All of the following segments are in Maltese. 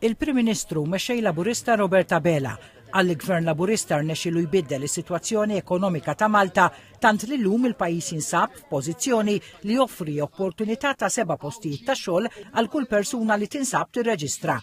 Il-Prim Ministru mexxej Laburista Robert Abela qal li Gvern Laburista rnexxielu jbiddel is-sitwazzjoni ekonomika ta' Malta tant li llum il-pajjiż jinsab f'pożizzjoni li joffri opportunità ta' seba' postijiet ta' xogħol għal kull persuna li tinsab tirreġistra.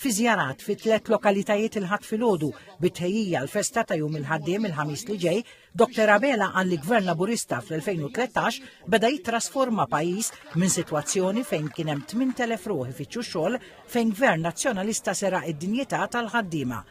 Fi żjarat fi tliet lokalitajiet il-Ħadd filgħodu bit-tħejjija għall-festa ta' Jum il-Ħaddiem il-Ħamis li ġej, Doktor Abela qal li Gvern Laburista fl-2013 beda jittrasforma pajjiż minn sitwazzjoni fejn kien hemm 8,000 ruħ ifittxu xogħol fejn Gvern Nazzjonalista seraq id-dinjità tal-ħaddiema.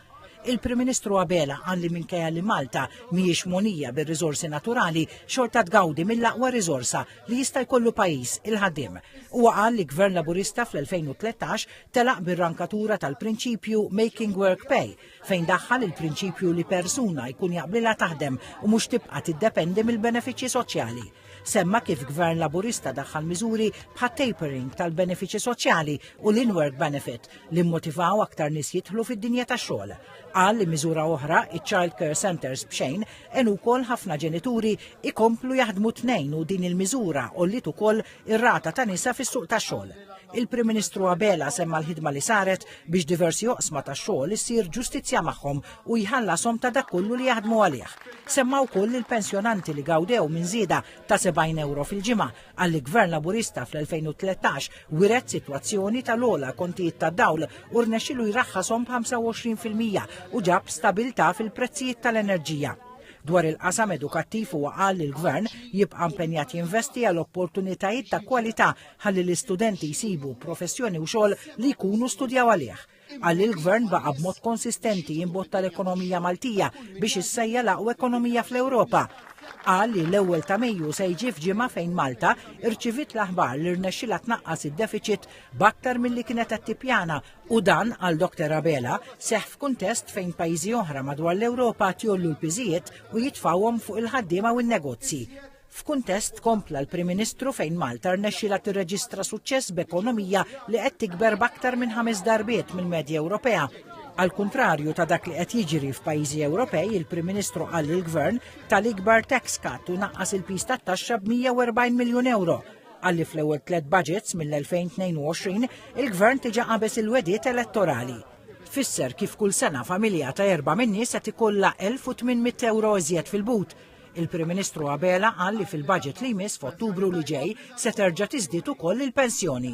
Il-Prim Ministru Abela qal li minkejja li Malta mhijiex mogħnija bir-riżorsi naturali xorta tgawdi mill-aqwa riżorsa li jista' jkollu pajjiż, il-ħaddiem. Huwa qal li Gvern Laburista fl-2013 telaq bir-rankatura tal-prinċipju Making Work Pay fejn daħħal il-prinċipju li persuna jkun jaqblilha taħdem u mhux tibqa' tiddependi mill-benefiċċji soċjali. Semma kif Gvern Laburista daħħal miżuri bħat-tapering tal-benefiċċji soċjali u l-in-work benefit li mmotivaw aktar nies jidħlu fid-dinja tax-xogħol. Qal li miżura oħra, iċ-child care centres b'xejn, għenu wkoll ħafna ġenituri ikomplu jaħdmu tnejn u din il-miżura għolliet ukoll ir-rata ta' nisa fis-suq tax-xogħol. Il-Prim Ministru Abela semma l-ħidma li saret biex diversi oqsma tax-xogħol issir ġustizzja magħhom u jħallashom ta' dak kollu li jaħdmu għalih. Semma wkoll lill-pensjonanti li gawdew minn żieda ta' 70 ewro fil-ġimgħa għalli Gvern Laburista fl-2013 wiret sitwazzjoni tal-ogħla kontijiet tad-dawl u rnexxielu jraħħashom b'25 fil-mija u ġab stabilità fil-prezzijiet tal-enerġija. Dwar il-qasam edukattiv huwa qal li l-Gvern jibqa' impenjat jinvesti għal opportunitajiet ta' kwalità ħalli l-istudenti jsibu professjoni u xogħol li jkunu studjaw għalih. Qal li l-Gvern baqa' b'mod konsistenti jimbotta l-ekonomija Maltija biex issejja l-aqwa ekonomija fl-Ewropa. Qal li l-ewwel ta' Mejju se jġi f'ġimgħa fejn Malta irċiviet l-aħbar li rnexxilha tnaqqas id-defiċit b'aktar milli kienet qed tippjana U dan, għal Dokter Abela, seħħ f'kuntest fejn pajjiżi oħra madwar l-Ewropa qed jgħollu l-piżijiet u jitfgħuhom fuq il-ħaddiema u n-negozji. F'kuntest, kompla l-Prim Ministru, fejn Malta rnexxielha tirreġistra suċċess b'ekonomija li qed tikber b'aktar minn ħames darbiet mill-medja Ewropea. Għall-kuntrarju ta' dak li qed jiġri f'pajjiżi Ewropej, il-Prim Ministru qal li l-Gvern ta l-ikbar tax cut u naqqas il-piż tat-taxxa b'140 miljun ewro. Qal li fl-ewwel tliet budgets mill-2022 il-Gvern diġà qabeż il-wegħdiet elettorali. Tfisser kif kull sena familja ta' erba' min-nies qed ikollha 1,800 ewro iżjed fil-but. Il-Prim Ministru Abela qal li fil-budget li jmiss f'Ottubru li ġej se terġa' tiżdied ukoll il-pensjoni.